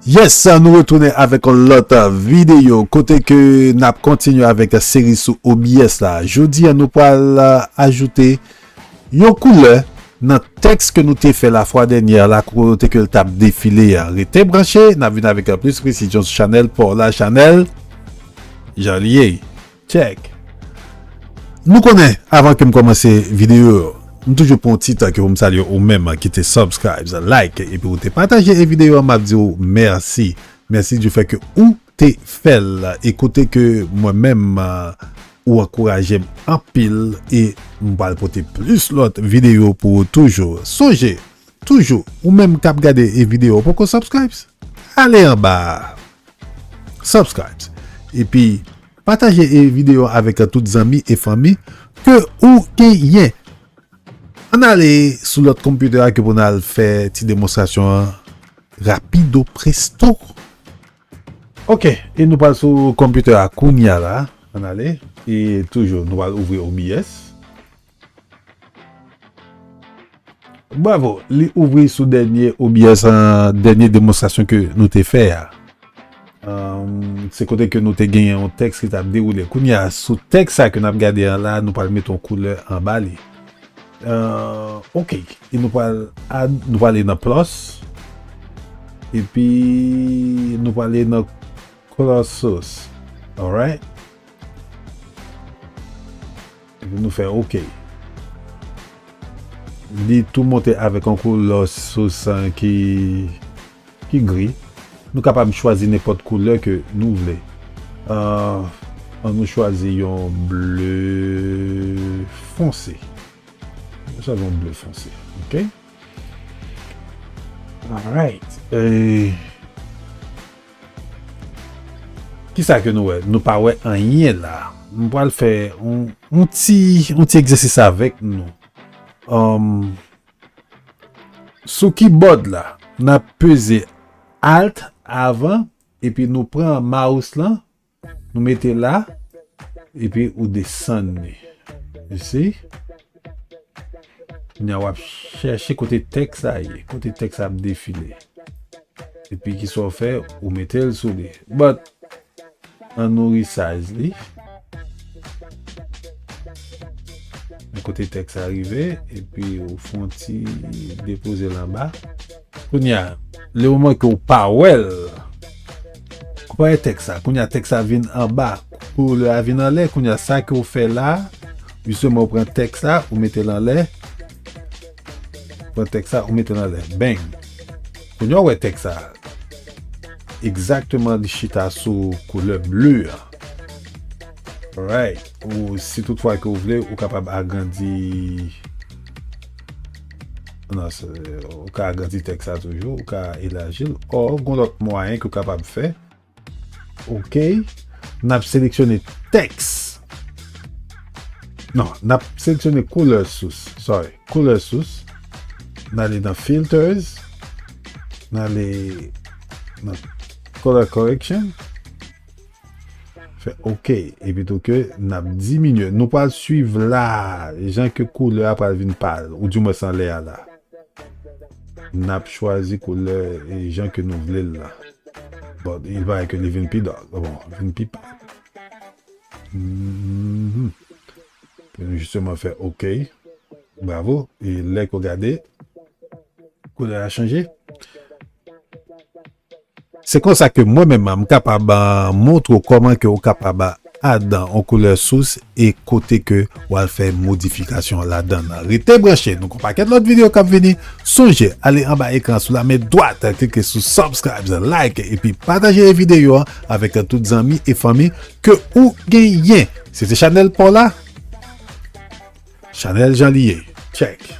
Yes, nou retounen avèk an lòt videyo kote ke nap kontinye avèk seri sou OBS la. Jodi an nou pral ajoute. Yon koulè nan tèks ke nou te fè la fwa dènyè la kote ke l t ap defile a. Rete branche, n ap vin avèk plis presizyon sou chanèl pa w la Chanèl Jan li ye Tchèk! Nou konnen avan ke m kòmanse videyo yo, m toujou pran yon ti tan ke pou m salye ou menm ki te subscribes, like epi ou te pataje e videyo an m ap di w mèsi. Mèsi du fait ke ou. te fèl e kote ke mwen menm ou ankourajem anpil e m pral pote plis lòt video pou ou toujou sonje toujou ou menm kap gade e video ou poko subscribes ale anba a subscribes epi pataje e video avèk tout zanmi e fanmi ke ou genyen ann ale sou lòt computer a ke pou n al fè ti demonstrasyon an rapido presto. Ok e nou pral sou computer a kounya la ann ale e toujou nou pral ouvri obs. Bravo li ouvri sou dènye obs an dènye demonstrasyon ke nou te fè a se kote ke nou te gen yon tèks ki tap dewoule kounya sou tèks sa ke nap gade an la nou pral met yon koulè anba li Euh ok e nou pral add nou pral ale nan plus epi nou pral ale nan color source alright epi nou fè ok li tou monte avèk yon color source ki Ki gri. Nou kapab chwazi nenpòt koulè ke nou vle. An nou chwazi yon ble fonse. Nou chwazi yon ble fonse. Ok. Alright. Ki sa ke nou wè? Nou pa wè anyen la. M pral fè yon ti egzèsis avèk nou. An. Sou kibòd la, n ap peze Alt avan epi nou pran mouse lan nou mete la epi ou desann li. You see? Kounya w ap chèche kote tèks la ye, kote tèks la ap defile. Epi kisa w fè, ou mete l sou li. But, An nou resize li. An kote tèks la rive epi ou fon ti depoze l anba. Kounye a, le moman ke ou pa wè l, konpare tèks la. Kounye a tèks la vin anba, koulè a vin anlè. Kounye a sa ke ou fè la, jisteman ou pran tèks la, ou mete l anlè. Pran tèks la, ou mete l anlè. Bang! Kounye a w wè tèks sa a? Egzakteman li chita sou koulè ble a. Alright. Ou si tout fwa ke ou vle, ou kapab agrandi nan se, ou ka agrandi tèks sa toujou, ou ka elaji l. Ò, gon lòt mwayen ke w kapab fè. Ok, n ap seleksyone tèks. Non, n ap seleksyone koulè sous. Sorry, koulè sous. N ale nan filters. N ale nan color correction. Fè ok. E pi tou ke n ap diminye. Nou pral suiv la. Jan ke koulè a pral vin pal. Ou di mwen san lè a la. Nap chwazi koulè jan ke nou vle l la. But il parait ke li vin pi dark. Bon, li vin pi pa. Mhm. Pou nou justement fè OK. Bravo. E lè ke w gade, koulè a chanje. Se konsa ke mwen menm m kapab montre w kòman ke w kapab add yon koulè sous e kote ke w al fè modifikasyon ladan l. Rete branche, nou gen yon pakèt lòt videyo k ap vini. Sonje ale anba ekran sou la men dwat klike sou subscribes, like epi pataje e videyo an avèk tout zanmi e fanmi ke ou genyen. Se te chanèl pa w la, chanèl jan li ye. Tchèk!